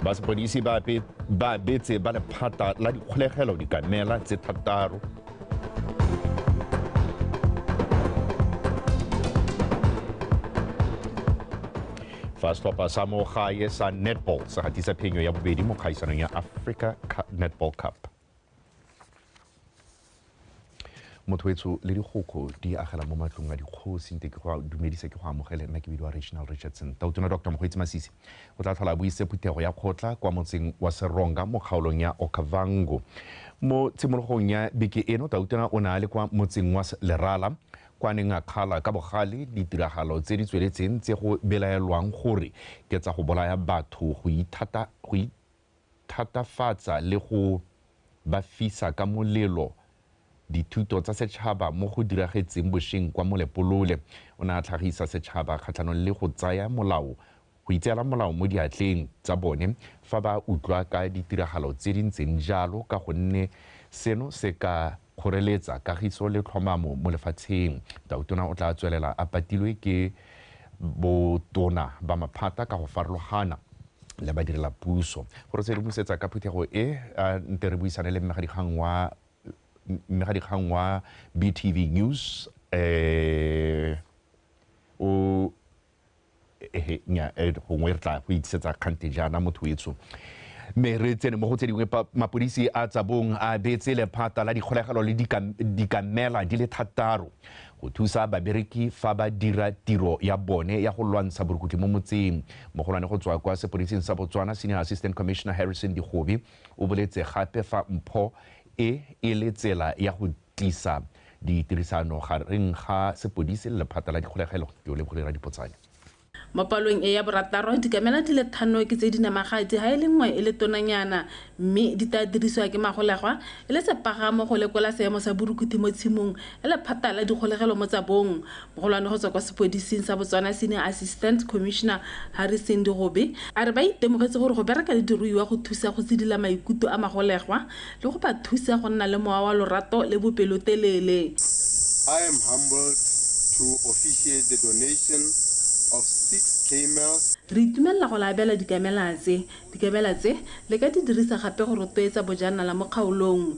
ba sepodisi ba betse ba lephata la dikgolegelo dikamela tse thataro fa setlhopha sa mo gae sa netball se gatisa phenyo ya bobedi mo kgaisanong ya africa netball cup mothoetso le dikgokgo di agela mo matlong a dikgosi nte ke go dumedisa ke go amogele nna ke bidiwa reginal richardson tautona dr mokgweetsi masisi o tla tlhola a buise phuthego ya kgotla kwa motseng wa seronga mo kgaolong ya okavango mo tshimologong ya beke eno tautona o ne a le kwa motseng wa lerala kwa neng a kgala ka bogale ditiragalo tse di tsweletseng tse go belaelwang gore ke tsa go bolaya batho go ithata go thatafatsa le go ba fisa ka molelo dithuto tsa setšhaba mo go diragetseng bosheng kwa Molepolole. O ne a tlhagisa setšhaba kgatlhanong le go tsaya molao go itseela molao mo diatleng tsa bone fa ba utlwa ka ditiragalo tse di ntseng jalo ka gonne seno se ka kgoreletsa kagiso le tlhomamo mo lefatsheng. Tautona o tla tswelela a patilwe ke botona ba maphata ka go farologana le badirela puso. Go re sedimosetsa ka phuthego e, a nte re buisane le mmegadikgang wa mmegadikgang wa BTV News eh, o ehe nya eh, gongwe re tla go itshetsa kgante jaana motho wetso mme re tsene mo go tse dingwe mapodisi a tsabong a beetse lephata la dikgolegelo le dikamela di le thataro go thusa babereki fa ba dira tiro ya bone ya go lwantsha borukutlhi mo motseng mogolwane go tswa kwa sepodising sa botswana senior assistant commissioner harrison digobe o boletse gape fa mpho e e le tsela ya go tiisa ditirisano gareng ga sepodisi le lephata la dikgolegelo yo Lebohile Radipotsane. Mo palong e ya borataro, dikamela di le thano ke tse di namagadi ha e le nngwe e le tonanyana mme di taa dirisiwa ke magolegwa e le sepagamo go lekola seemo sa borukuthi mo tshimong le lephata la dikgolegelo mo tsabong. Mogolwane go tswa kwa sepodising sa Botswana Senior Assistant Commissioner Harrison Digobe a re ba itemogetse gore go bereka le diruiwa go thusa go tsidila maikuto a magolegwa le go ba thusa go nna le mowa wa lorato le bopelotelele. I am humbled to officiate the donation of six camels. Re itumelela go le abela dikamela tse. Dikamela tse le ka di dirisa gape go rotloetsa bojanala mo kgaolong.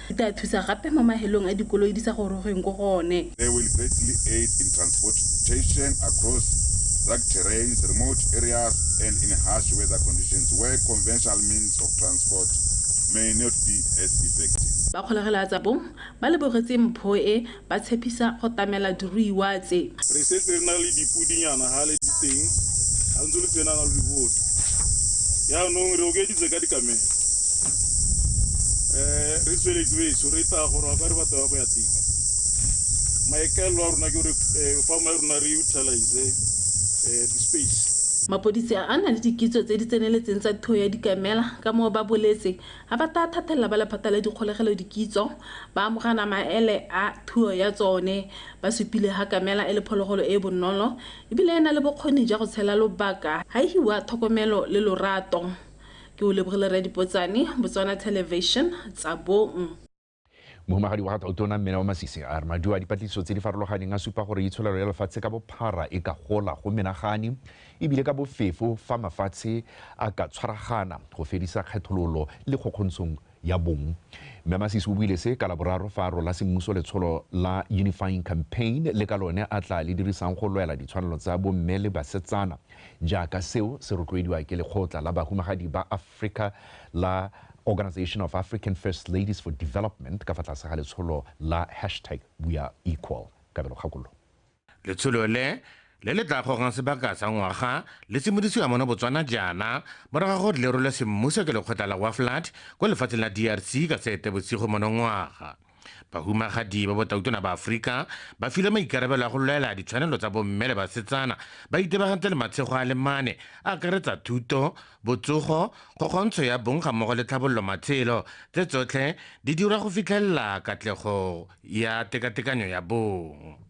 Di tla thusa gape mo mahelong a dikoloi di sa gorogeng ko go one. They will greatly aid in transportation across rugged terrains, remote areas and in harsh weather conditions where conventional means of transport may not be as effective. Ba kgolegela tsa bong ba lebogetse mpho e Ba tshepisa go tamela diruiwa tse. Re setse re na le dipudinyana ga le di teng, ga ntse lo tsenana lo di bone. Jaanong re okeditse ka dikamelo. Re tsweletse betsho re tla gore wa ka re batho ba go ya teng. Maikaelelo a rona ke gore farm ya rona re utilize di space. Mapodisi a na le dikitso tse di tseneletseng tsa thuo ya dikamela ka moo ba boletse A ba taa thathelela ba lephata la dikgolegelo dikitso, ba amogana maele a thuo ya tsone, ba supile ha kamela e le phologolo e e bonolo e bile e na le bokgoni ja go tshela lobaka ha e hiwa thokomelo le lorato. Ke o lebogile Rre Dipotsane, Botswana Television, Tsabong. Mohumagadi wa ga Tautona Mmena wa Masisi a re maduo a dipatlisiso tse di farologaneng a supa gore itsholelo ya lefatshe ka bophara e ka gola go menagane ebile ka bofefo fa mafatshe a ka tshwaragana go fedisa kgethololo le kgokgontshong ya bong. Mme Masisi o buile se ka Laboraro fa a rola semmuso letsholo la Unifying Campaign le ka lone a tla le dirisang go lwela ditshwanelo tsa bomme le basetsana jaaka seo se rotloediwa ke lekgotla la bahumagadi ba Africa la Organisation of African First Ladies for Development ka fa tlase ga letsholo la hashtag WeAreEqual. Kabelo Kgakollo. Letsholo le, le le tla gogang sebaka sa ngwaga, le simolisiwa mono Botswana jaana, morago ga gore le rolwe semmuso ke lekgotla la WAFLAD ko lefatsheng la DRC ka Seetebosigo monongwaga. Bahumagadi ba botautona ba Aforika ba filwe maikarabelo a go lwela ditshwanelo tsa bomme le basetsana ba itebagantse le matshego a le mane a akaretsa thuto, botsogo, kgokgontsho ya bong ga mmogo le tlhabololo matshelo, tse tsotlhe di dirwa go fitlhelela katlego ya tekatekanyo ya bong.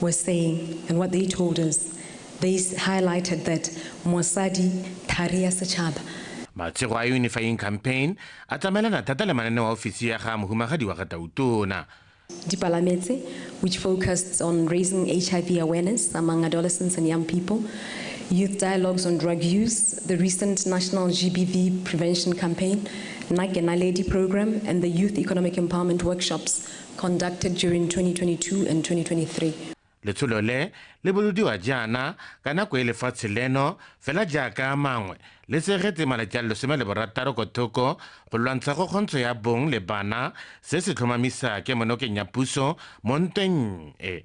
were saying and what they told us, they highlighted that Mosadi Thari ya Setšhaba matshego a unifying campaign a tsamaelana thata le mananeo a ofisi ya ga mohumagadi wa ga tautona dipalametse which focused on raising hiv awareness among adolescents and young people youth dialogues on drug use the recent national gbv prevention campaign nake naledi program and the youth economic empowerment workshops conducted during 2022 and 2023. Letsholo le le bolodiwa jaana ka nako e lefatshe leno fela jaaka a mangwe le tsegetse malatsi a le lesome le borataro ko thoko go lwantsha kgokgontsho ya bong le bana se se tlhomamisa kemonokeng ya puso mo ntweng e.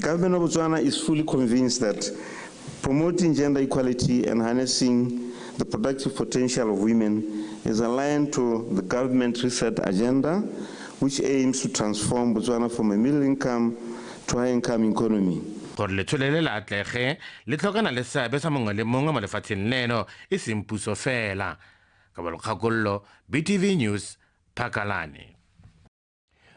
Government of Botswana is fully convinced that promoting gender equality and harnessing the productive potential of women is aligned to the government reset agenda, which aims to transform Botswana from a middle income to high income economy. Gore letshole le le atlege, le tlhokana le seabe sa mongwe le mongwe mo lefatsheng leno, e seng puso fela. Kabelo Kgakollo, BTV News, Phakalane.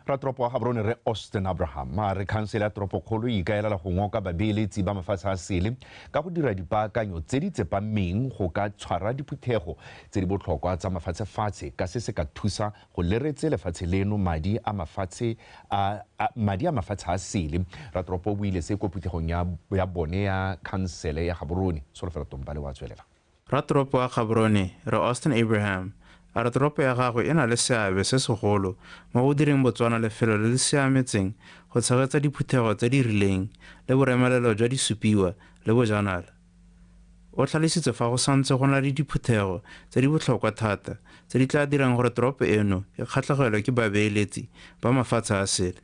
ratoropo wa gaborone re austin abraham a re khansele ya toropokgolo e ikaelela go ngoka babeeletsi ba mafatshe a sele ka go dira dipaakanyo tse di tsepameng go ka tshwara diphuthego tse di botlhokwa tsa mafatshefatshe ka se se ka thusa go leretse lefatshe leno madi a mafatshe a madi a mafatshe a sele ratoropo o buile se ko phuthegong ya bone ya khansele ya gaborone solofela tompale wa tswelela Ratoropo wa Gaborone, Rre Austin Abraham, a re toropo ya gagwe e na le seabe se segolo mo go direng Botswana lefelo le le siametseng go tshegetsa diphuthego tse di rileng le boremelelo jwa disupiwa le bojanala. O tlhalositse fa go santse go na le diphuthego tse di botlhokwa thata tse di tla dirang gore toropo eno e kgatlhegelwe ke babeeletsi ba mafatshe a sele.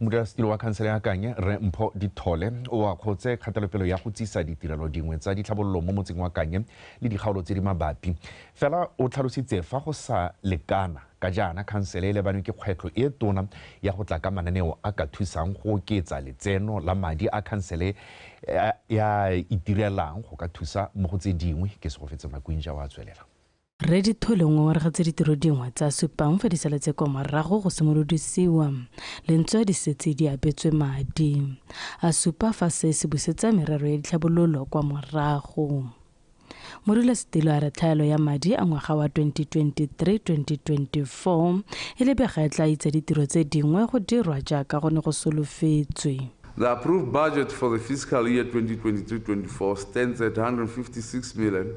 modulasetilo wa khansele ya kanye re mpho dithole o akgotse kgatelopelo ya go tsisa ditirelo dingwe tsa ditlhabololo mo motseng wa kanye le dikgaolo tse di mabapi fela o tlhalositse fa go sa lekana ka jaana khansele e lebanwe ke kgwetlho e tona ya go tla ka mananeo a ka thusang go oketsa letseno la madi a khansele ya itirelang go ka thusa mo go tse dingwe ke segofetse makwinja wa tswelela Rre Dithole o ngongoregetse ditiro dingwe tsa Supang fa di saletse kwa morago go simolodisiwa le ntse di setse di abetswe madi. A supa fa se se busetsa merero ya ditlhabololo kwa morago. Modulasetilo a re tlhaelo ya madi a ngwaga wa 2023-2024 e lebega e tla itsa ditiro tse dingwe go dirwa jaaka go ne go solofetswe. The approved budget for the fiscal year 2023-24 stands at R156 million.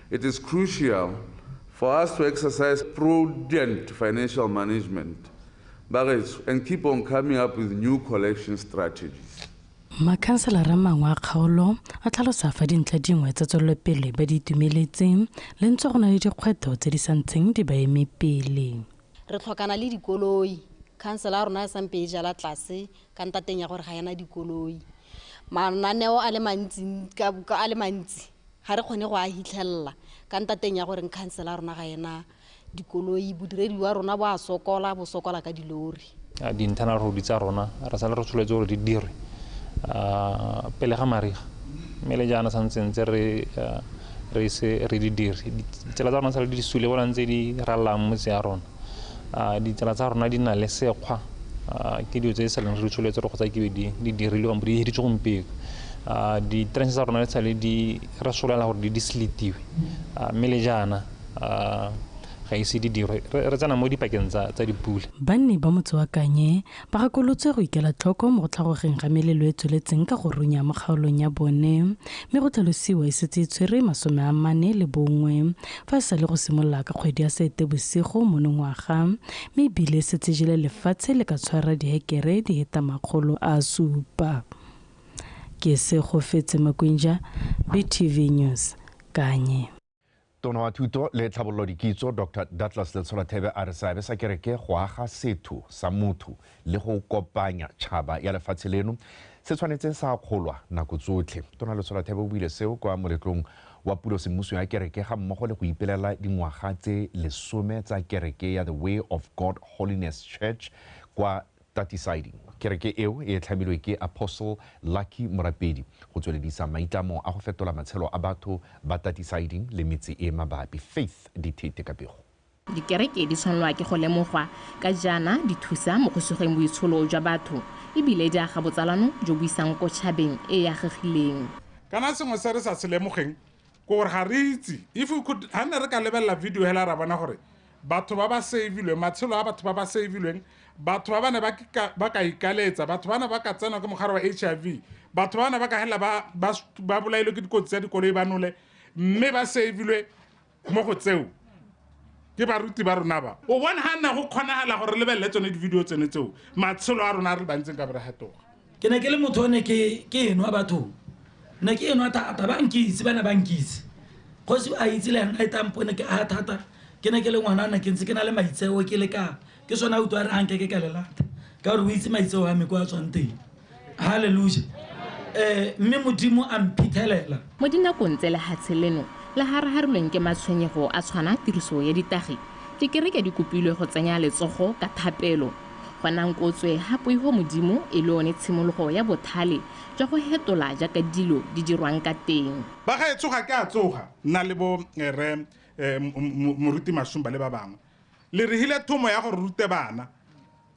It is crucial for us to exercise prudent financial management bagetso and keep on coming up with new collection strategies. Makhanselara a mangwe a kgaolo a tlhalosa fa dintlha dingwe tsa tswelelopele ba di itumeletseng le ntse go na le dikgwetlho tse di sa ntsheng di ba eme pele. Re tlhokana le dikoloi, khansela ya rona e sampe e jala tlase ka ntateng ya gore ga ena dikoloi. Mananeo a le mantsi a le mantsi Ga re kgone go a hitlhelela ka ntateng ya gore nkhansela rona ga ena dikoloi, bodiredi wa rona bo a sokola, bo sokola ka dilori. Di-internal road tsa rona re sale re tsholetse gore di dirwe pele ga mariga mme le jaana santse ntse re re se re di dire ditsela tsa rona sa le di sule bona ntse di rallang motse ya rona a ditsala tsa rona di na le sekgwa ke dilo tse di saleng re di tsholetse re kgotsa kebe di dirilwe kampo di hiritse gompieno di-trance tsa rona di sale di re solela gore di di sletiwe mme le jaana ga ise di dirwe re tsena mo dipakeng tsa dipula banni ba motse wa kanye Ba gakolotswe go ikela tlhoko mo go tlhagogeng ga melelo e tsweletseng ka go runya mo kgaolong ya bone mme go tlhalosiwa e setse e tshwere masome a mane le bongwe fa e sa le go simolola ka kgwedi ya Seetebosigo monongwaga mme e bile e setse e jele lefatshe le ka tshwara dihekere di heta makgolo a supa. Ke Segofetse Makwinja, BTV News, Kanye. Tona wa Thuto le Tlhabololodikitso Doctor Douglas Letshola Thebe a re seabe sa kereke go aga setho sa motho le go kopanya tšhaba ya lefatshe leno se tshwanetse sa akgolwa nako tsotlhe. Tona Letshola Thebe o buile seo kwa moletlong wa pulo semmuso ya kereke ga mmogo le go ipelela dingwaga tse lesome tsa kereke ya The Way of God Holiness Church kwa Tatisadi, Kereke eo e tlhamilwe ke Apostle Lucky Morapedi go tsweledisa maitlamo a go fetola matshelo a batho ba Tatisadi le metse e e mabapi. Faith Dithete ka pego. Dikereke di tshwanelwa ke go lemogwa ka jaana di thusa mo go sugeng boitsholo jwa batho e bile di aga botsalano jo bo isang ko tšhabeng e e agegileng. Kana sengwe se re sa se lemogeng ko gore ga re itse if we could ha ne re ka lebelela video hela ra bona gore batho ba ba savilweng matshelo a batho ba ba savilweng batho ba ba ne ba ka ikaletsa batho ba ne ba ka tsenwa ke mogare wa h i v batho ba ne ba ka hela ba bolailwe ke dikotsi tsa dikoloi ba nole mme ba savilwe mo go tseo ke baruti ba rona ba o bona ga nna go kgonagala gore lebelele tsone di-video tsone tseo matshelo a rona a re bantseng ka bere gatoga ke ne ke le motho o ne ke enwa bathong ne ke enwa thata ba nkitse ba ne ba nkitse kgosi a itse le ena e tampo ne ke a thata ke ne ke le ngwana ne ke ntse ke na le maitseo ke le ka ke sone a utlwa a re anke ke ka le lata ka gore o itse maitseo a me ko a tswang teng halleluja um mme modimo a mphithelela mo dinakong tse lehatshe leno le haraharilweng ke matshwenyego a tshwana tiriso ya ditagi dikereke di kopilwe go tsenya letsogo ka thapelo Gonang kotswe ga poigo Modimo e le one tshimologo ya bothale jwa go hetola jaaka dilo di dirwang ka teng. Bagaetsho ga ke a tsoga nna le bo Rre Moruti Mashumba le ba bangwe le re hile thomo ya go re rute bana.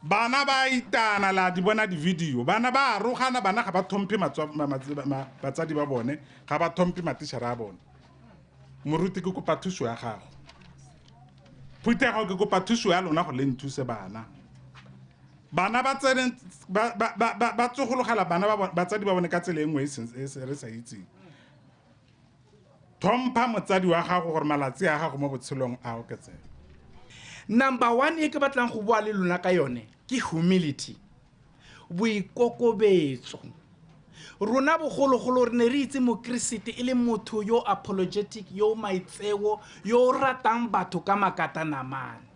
Bana ba a itana, le a di bona di-video. Bana ba a rogana, bana ga ba thomphe batsadi ba bone, ga ba thomphe matišhara a bone. moruti ke kopa thuso ya gago phuthego ke kopa thuso ya lona go le nthuse bana bana ba tsene ba- ba- ba- ba- ba tsogologela bana ba bo- batsadi ba bone ka tsela e nngwe e seng- e se- re sa itseng tlhompha motsadi wa gago gore malatsi a gago mo botshelong a oketsega number one e ke batlang go bua le lona ka yone ke humility boikokobetso rona bogologolo re ne re itse mokeresete e le motho yo apologetic yo maitseo yo o ratang batho ka makata namane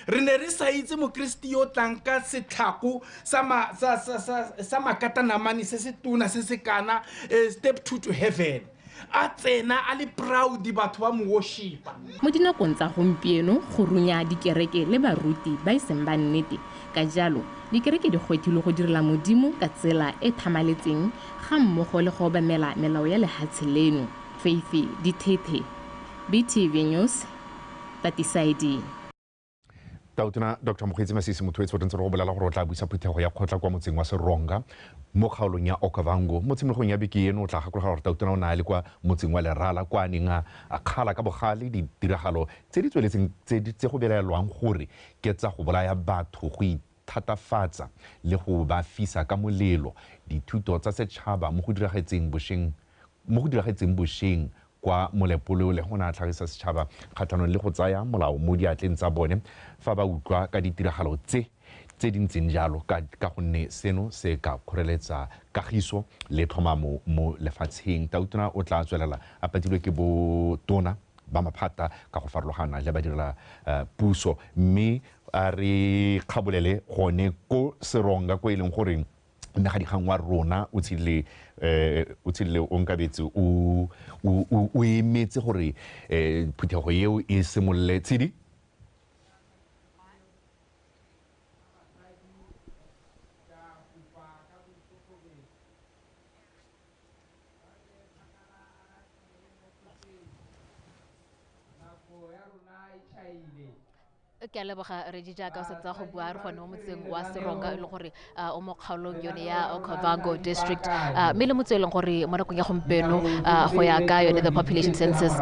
re ne re sa itse mokeresete yo tlang ka setlhako sa ma- sa- sa- sa- sa makata namane se se tona se se kana eh, step two to heaven A tsena a le proud batho ba mo worshipa. Mo dinakong tsa gompieno go runya dikereke le baruti ba e seng ba nnete. Ka jalo, dikereke di gwetilwe go direla Modimo ka tsela e e tlhamaletseng ga mmogo le go obamela melao ya lehatshe leno. Faithy Dithethe, BTV News, Tatisaiding. tautona dr mokgweetsi masisi motho etse o tentse re go bolela gore o tla buisa phuthego ya kgotla kwa motseng wa seronga mo kgaolong ya okavango mo tshimologong ya beke eno o tla gakologa gore tautona o ne a le kwa motseng wa lerala kwa a neng a kgala ka bogale ditiragalo tse di tsweletseng tse go belaelwang gore ke tsa go bolaya batho go thatafatsa le go ba fisa ka molelo dithuto tsa setšhaba mo go diragetseng bosheng mo go diragetseng bosheng kwa Molepoleo le go na tlhagisa setšhaba kgatlhanong le go tsaya molao mo diatleng tsa bone fa ba utlwa ka ditiragalo tse tse di ntseng jalo ka ka gonne seno se ka kgoreletsa kagiso le tlhomamo mo lefatsheng. Tautona o tla tswelela a patilwe ke botona ba maphata ka go farologana le badirela puso mme a re kgabolele gone ko seronga ko e leng gore mmegadikgang wa rona o tshile um o tshile o nkabetse o emetse gore um phuthego eo e simolole tshedi ke a leboga redi jaaka o setse go bua re gone mo motseng wa seronga e le gore o mo kgaolong yone ya okavango district mme le motse e leng gore mo nakong ya gompieno go ya ka yone the population census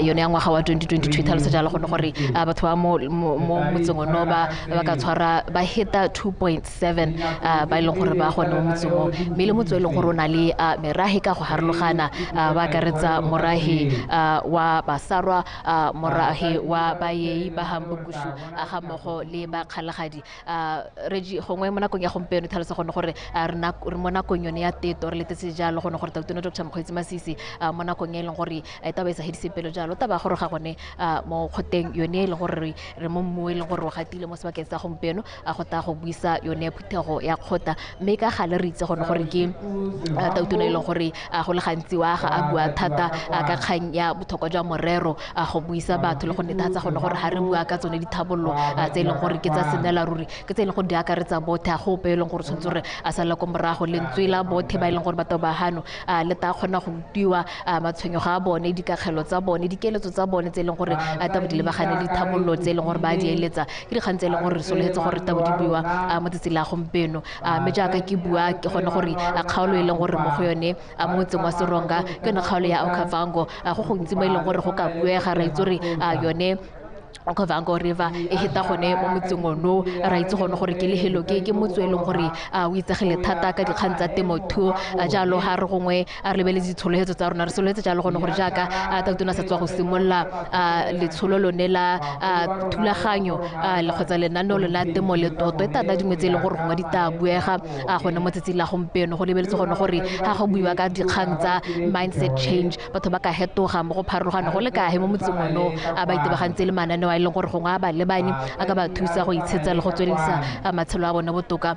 yone ya ngwaga wa 2022 tlhalosa jalo gone gore batho ba mo motseng ono ba ba ka tshwara ba heta 2.7 ba e leng gore ba gone mo motseng o mme le motse e leng gore o na le merahe ka go harologana ba akaretsa morahe wa basarwa a morahi wa bayei ba hambukushu a ga mogo le ba kgalagadi a regi gongwe mo nakong ya gompieno tlhalosa gone gore re mo nakong yone ya teto re letetse jalo gone gore tautona dr mokgweetsi masisi mo nakong e e leng gore e taba e sa hedise pelo jalo taba gore ga gone mo kgoteng yone e leng gore re mo mmu e leng gore o gatile mo sebakeng sa gompieno a go taya go buisa yone phuthego ya kgota mme ka gale re itse gone gore ke uh, tautona e leng gore uh, go le gantsi wa ga a bua thata uh, ka kgang ya botlhokwa jwa morero a go buisa batho le go netefatsa gone gore ga re bua ka tsone dithabololo tse e leng gore ke tsa senela ruri ke tse e leng gore di akaretsa bothe a gope e leng gore tshwanetse gore a sala ko morago lentswe la bothe ba e leng gore batho ba gano le ta kgona go rutiwa matshwenyego a bone dikakgelo tsa bone dikeletso tsa bone tse e leng gore a tabo di lebagane dithabololo tse e leng gore ba di eletsa ke dikgang tse e leng gore re sologetse gore tabo di buiwa mo tsatsi la gompieno mme jaaka ke bua ke gone gore kgaolo e leng gore mo go yone mo motseng wa seronga ke yone kgaolo ya okavango go gontsi mo e leng gore go ka buega ra itse gore yone okavango river e heta gone mo motseng ono ra itse gone gore ke lehelo ke ke motso e leng gore o itsegele thata ka dikgang tsa temothuo jalo ga re gongwe a re lebeletse ditshologetse tsa rona re sologetse jalo gone gore jaaka a tatona sa tswa go simolola letsholo lone la thulaganyo kgotsa lenaneo lone la temo le toto e tata dingwe tse e leng gore gongwe di tla buega a gone mo tsatsing la gompieno go lebeletse gone gore ga go buiwa ka dikgang tsa mindset change batho ba ka hetoga mo go pharologano go le kae mo motseng ono a ba itebagantse le mananeo a e leng gore gongwe a ba lebane a ka ba thusa go itshetsa le go tswelelisa matshelo a bone botoka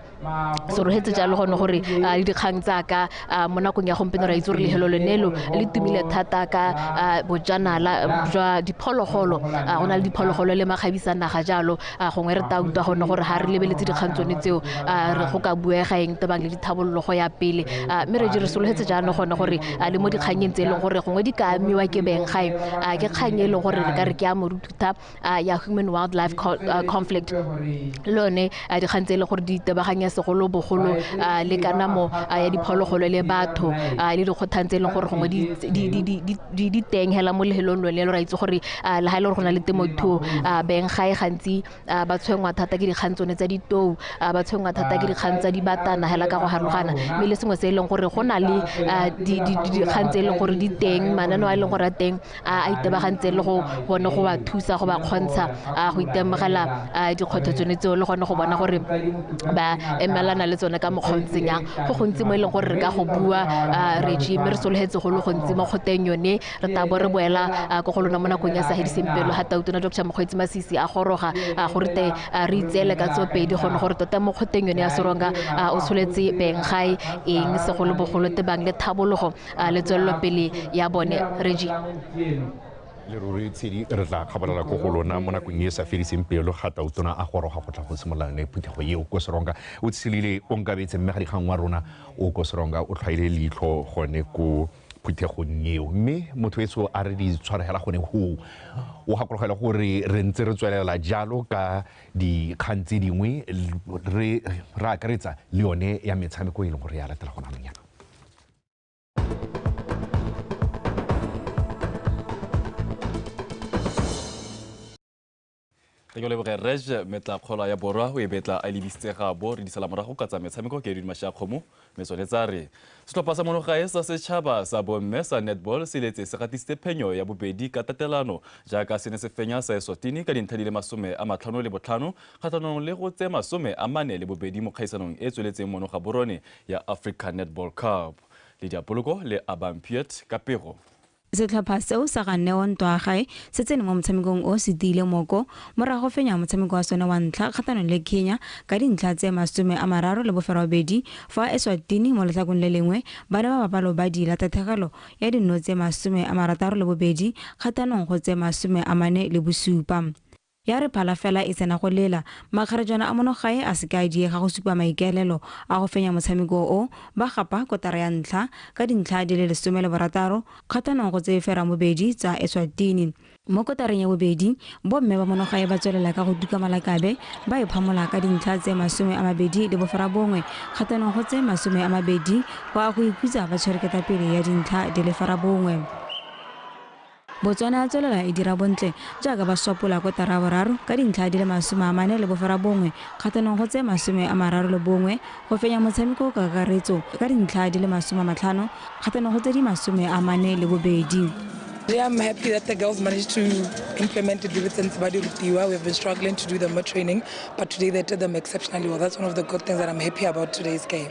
so re hetse jalo gone gore a le dikgang tsaka mo nakong ya gompieno ra itse gore lehelo lone lo le tumile thata ka bojanala jwa diphologolo go na le diphologolo le makgabisa naga jalo gongwe re ta utlwa gone gore ga re lebeletse dikgang tsone tseo re go ka buega eng tebang le dithabololo go ya pele mme re re sologetse jaanong gone gore le mo dikganyeng tse e leng gore gongwe di ka amiwa ke beng gae ke kgang e leng gore re ka re ke ya morututa a ya human wildlife conflict le one a dikgang tse e le gore di itebaganya segolobogolo le kanamo ya diphologolo le batho le dikgothang tse e leng gore gongwe di teng hela mo lehelong lone lo ra itse gore le ga e le gore go na le temothuo beng ga e gantsi ba tshwengwa thata ke dikgang tsone tsa ditou ba tshwengwa thata ke dikgang tsa dibatana hela ka go harogana mme le sengwe se e leng gore go na le dikgang tse e leng gore di teng mananeo a e leng gore a teng a itebagantse le go bone go ba thusa go ba kgontsha go itemogela dikgwetlho tsone tseo le gone go bona gore ba emelana le tsone ka mokgwa ntseng yang go gontsi mo e leng gore re ka go bua regi mme re sologetse go le gontsi mo kgoteng yone re tabo re boela ko go lona mo nakong ya sahediseng pelo ga tautona dr mokgweetsi masisi a goroga gore te re itseele ka tsopedi gone gore tota mo kgoteng yone ya seronga o tsholetse beng gae eng segolobogolo tebang le thabologo a le tswelelopele ya bone regi leruri tshedi re tla kgabalela ko go lona mo nakong e sa fediseng pelo ga tautona a goroga go tla go simolola yone phuthego eo ko seronga o tshelile o nkabetse mme ga dikgang wa rona o ko seronga o tlhwaile leitlho gone ko phuthegong eo mme motho eso a re di tshwaregela gone goo o gakologela gore re ntse re tswelela jalo ka dikgang tse dingwe re akaretsa le yone ya metshameko e leng gore ya latela gona anong yana re ke leboge rej metla kgola ya borwa o e betla a lebisitse gabo re disala morago ka tsa metshameko ke edwin mashakgomo mme tsone tsa re setlhopha sa monogae sa setšhaba sa bomme sa netball se letse se gatisitse phenyo ya bobedi ka tatelano jaaka se ne se fenya sa eswatini ka dintlha di le masome a matlhano le botlhano kgatlhanong le go tse masome a mane le bobedi mo kgaisanong e tsweletseng monoga borone ya Africa Netball Cup. Lediapoloko le abang Piet ka pego. Setlhopha seo sa ga Neo Ntwaagae se tsene mo motshamekong o se tiile moko morago go fenya motshameko wa sone wa ntlha kgatlhanong le Kenya ka dintlha tse masome a mararo le boferobedi fa Eswatini mo letlhakong le lengwe ba ne ba bapa lobadi la tathegelo ya dinno tse masome a marataro le bobedi kgatlhanong go tse masome a mane le bosupa. Ya re phala fela e tsena go lela. Makgarejana a monogae a se ke a diega go supa maikaelelo a go fenya motshameko o, ba gapa kotara ya ntlha ka dintlha di le lesome le borataro kgatlhanong go tse fera bobedi tsa Eswatini. Mo kotareng ya bobedi, bomme ba monogae ba tswelela ka go tuka malakabe, ba e phamola ka dintlha tse masome a mabedi le boferabongwe kgatlhanong go tse masome a mabedi go a go ikhutsa ba tshwere ketapele ya dintlha di le ferabongwe. Botswana ya tswelela e dira bontle jaaka ba swapola kotara ya boraro ka dintlha di le masome a mane le boferabongwe kgatlhanong go tse masome a mararo le bongwe go fenya motshameko ka kakaretso ka dintlha di le masome a matlhano kgatlhanong go tse di masome a mane le bobedi. Yeah, I'm happy that the girls managed to implement the dividends by the Rutiwa. We've been struggling to do them more training, but today they did them exceptionally well. That's one of the good things that I'm happy about today's game.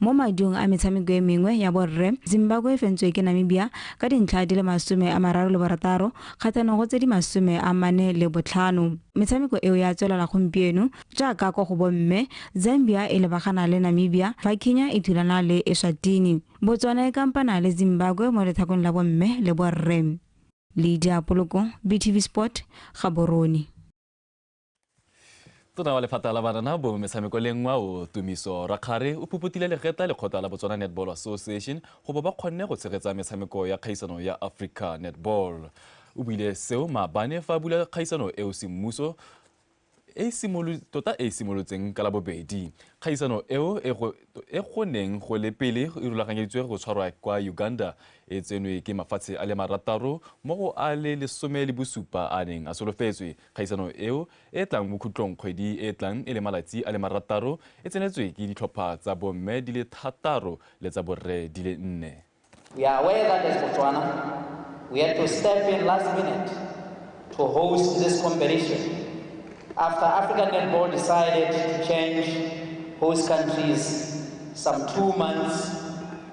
Mo madung a metshameko e mengwe ya borre, Zimbabwe e fentswe ke Namibia ka dintlha di le masome a mararo le borataro kgatlhanong go tse di masome a mane le botlhano. Metshameko eo ya tswelela gompieno. Jaaka kwa go bomme, Zambia e lebagana le Namibia fa Kenya e thulana le Eswatini. Botswana e kampana le Zimbabwe mo letlhakong la bomme le borre. Lydia Poloko, BTV Sport, Gaborone. tona wa lephata la banana bongwe metshameko le nngwa o tumiso rakgare o phuputile legeta lekgotla la botswana netball association go bo ba kgonne go tshegetsa metshameko ya kgaisano ya africa netball o buile seo maabane fa a bula kgaisano eo semmuso e tota e simolotseng ka la bobedi kgaisano eo e go e neng go le pele e rulaganyeditswe go tshwarwa kwa uganda e tsenwe ke mafatshe a le marataro mo go a le lesome le bosupa a neng a solofetswe Kgaisano eo e e tlang bokhutlong kgwedi e e tlang e le malatsi a le marataro e tsenetswe ke ditlhopha tsa bomme di le thataro le tsa borre di le nne. We are aware that as Botswana, we had to step in last minute to host this competition after African Netball decided to change host countries some two months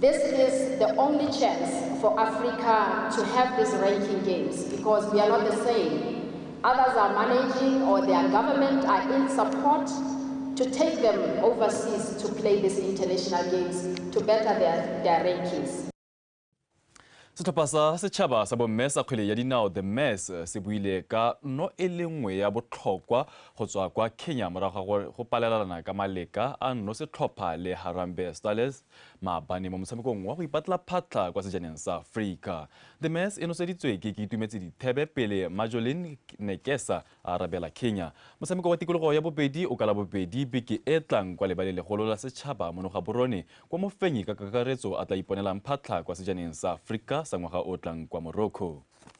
This is the only chance for Africa to have these ranking games because we are not the same. Others are managing or their government are in support to take them overseas to play these international games to better their, their rankings. setlhopha sa setšhaba sa bomme sa kgwele ya dinao the mass eh, se buile ka no e le nngwe ya botlhokwa go tswa kwa kenya morago ga go palelelana ka maleka a nno setlhopha le harambe stales maabane mo motshamekong wa go ipatla phatlha kwa sejaneng sa Afrika. The Mess e noseditswe ke Itumetse Dithebe pele Majolin Nekesa a arabela Kenya. Motshameko wa tikologo ya bobedi o ka labobedi beke e tlang kwa lebaleng legolo la setšhaba mo Nogaborone kwa mofenyi ka kakaretso a tla iponelang phatlha kwa sejaneng sa Afrika sa ngwaga o tlang kwa Morocco.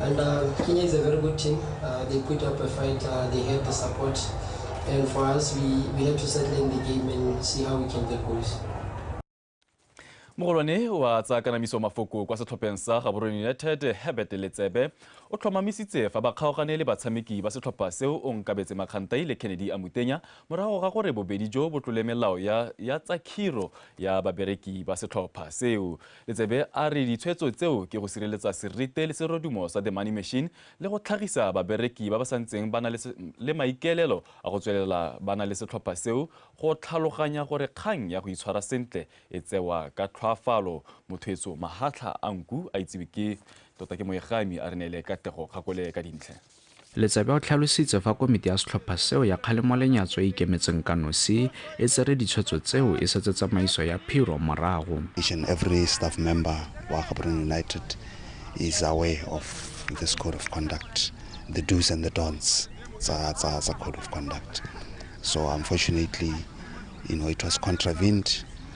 And uh, Kenya is a very good team. Uh, they put up a fight. Uh, they had the support. And for us, we, we had to settle in the game and see how we can get goals. mogolwane wa tsa kanamiso mafoko kwa setlhopheng sa gaborone united herbert letsebe o tlhomamisitse fa ba kgaogane le batshameki ba setlhopha seo o nkabetse makgantai le kennedy a mutenya morago ga gore bobedi jo bo tlole melao ya, ya tsa khiro ya babereki ba setlhopha seo Letsebe a re ditshwetso tseo ke go sireletsa serite le serodumo sa The Money Machine le go tlhagisa babereki ba ba santseng ba na le maikaelelo a go tswelela ba na le setlhopha seo go tlhaloganya gore kgang ya go itshwara sentle e tsewa ka tlhwaafalo. Mothoetso Mahatlha a nku a itsiwe ke tota ke moegami a re neele Katlego Kgakole ka dintlha. Letsebe o tlhalositse fa komiti ya setlhopha seo ya kgalemo-lenyatso e ikemetseng ka nosi e tsere ditshwetso tseo e setse tsamaiso ya phiro morago. Each and every staff member wa Gaborone United is aware of this code of conduct, the do's and the don'ts tsa tsa tsa code of conduct. So unfortunately, you know, it was contravened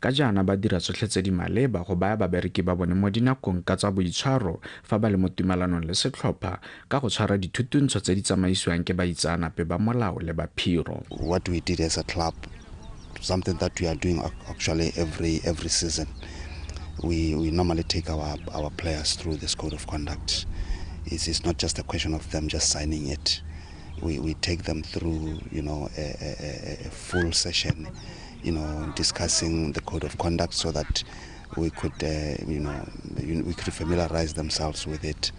Ka jaana ba dira tsotlhe tse di maleba go baya babereki ba bone mo dinakong ka tsa boitshwaro fa ba le mo tumalanong le setlhopha ka go tshwara dithutuntsho tse di tsamaisiwang ke baitsaanape ba molao le ba phiro. What we did as a club, something that we are doing actually every every season, we we normally take our our players through this code of conduct. It's, it's not just a question of them just signing it. We we take them through, you know, a, a, a full session. you know, discussing the code of conduct so that we could, uh, you know, we could familiarize themselves with it.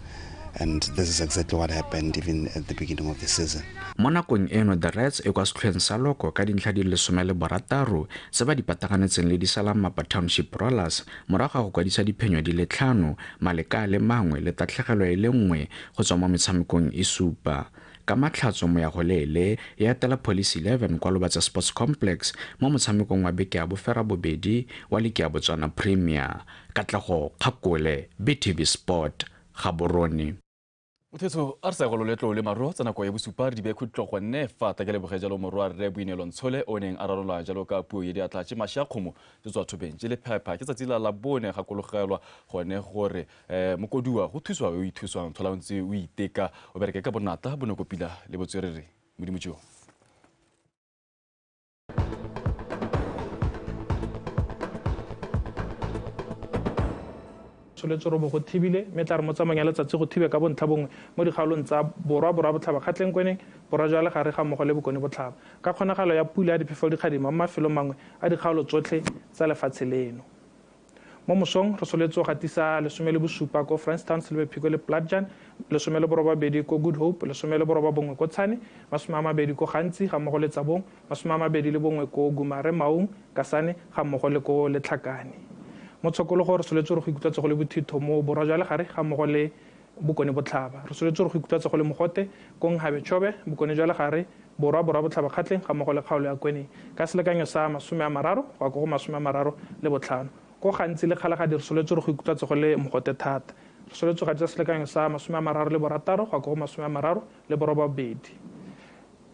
And this is exactly what happened even at the beginning of the season. mo nakong eno the rats e kwa setlhoeng sa loko ka dintlha di lesome le borataro se ba di pataganetseng le disalamapa township rollers morago ga go kwadisa diphenyo di le tlhano maleka le mangwe le tatlhegelo e le nngwe go tswa mo metshamekong e supa Ka Matlhatso Moyagoleele e atela Police Eleven kwa Lobatse Sports Complex mo motshamekong wa beke ya boferabobedi wa liki ya Botswana Premier. Katlego Kgakole, BTV Sport, Gaborone. Mothetso a re sa go loletlo le maro tsa nako ya bosupa re di bee khutlo gonne fa ta ke leboge jalo morwa rre Boineelo Ntshole o neng a rarolwa jalo ka puo ye di atla tše mashe a kgomo tše tswa thobeng tše le phepha ke tsatsi la la bone gakologelwa gone gore um mokodiwa go thuswa o ithuswang tlhola o ntse o iteka o bereke ka bonatla bonoko pila le botswerere modimo jo tsholetse robo go thibile mme tla re mo tsamayng ya letsatsi go thibe ka bontlha bongwe mo dikgaolong tsa borwa borwa botlhaba kgatlengkweneng borwa jwa legare ga mmogo le bokone botlhaba ka kgonagalo ya pula ya diphefo dikgadima mo mafelong mangwe a dikgaolo tsotlhe tsa lefatshe leno Mo mosong, re soletse go gatisa lesome le bosupa ko Franston, Silverpeak le Platjan, lesome le borobabedi ko Good Hope, lesome le borobabongwe ko Tshane, masome a mabedi ko Gantsi ga mmogo le Tsabong, masome a mabedi le bongwe ko Gumare, Maung, Kasane ga mmogo le ko Letlhakane. Mo Tshokologo, re soletse gore go ikutlwa tsogo le bothitho mo Borwa jwa Legare ga mmogo le Bokone Botlhaba, re soletse gore go ikutlwatsa go le mogote ko Nghabe Chobe, Bokone jwa Legare, Borwa, Borwa Botlhaba Kgatleng ga mmogo le kgaolo ya Kweneng ka selekanyo sa masome a mararo go ya ko go masome a mararo le botlhano. Ko gantsi le Kgalagadi re soletse gore go ikutlwatsa go le mogote thata. Re soletse go atisa selekanyo sa masome a mararo le borataro go ya ko go masome a mararo le borobabedi.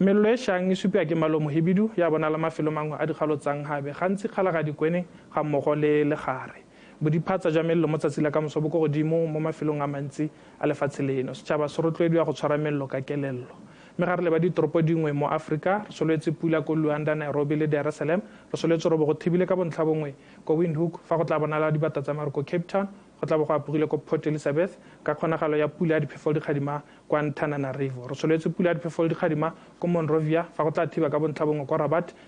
Melelo e shang e supiwa ke malo mohibidu ya bonala mafelo mangwe a dikgalo tsa Nghabe, gantsi Kgalagadi, Kweneng ga mmogo le Legare. Bodiphatsa jwa mello mo tsatsi la kamoso bo ko godimo mo mafelong a mantsi a lefatshe leno. Setšhaba se rotloediwa go tshwara mello ka kelello. Mme ga re leba ditoropo dingwe mo Afrika, re solwetse pula ko Luanda, Nairobi le Dar es Salaam, re solwetse robo go thibile ka bontlhabongwe ko Windhoek, fa go tlaa bonala dibata tsa maru ko Cape Town, go tlaa bo go apogile ko Port Elizabeth, ka kgonagalo ya pula ya diphefoledikgadima ko Antananarivo. Re solwetse pula ya diphefoledikgadima ko Monrovia, fa go tlaa thiba ka bontlhabongwe ko Rabat,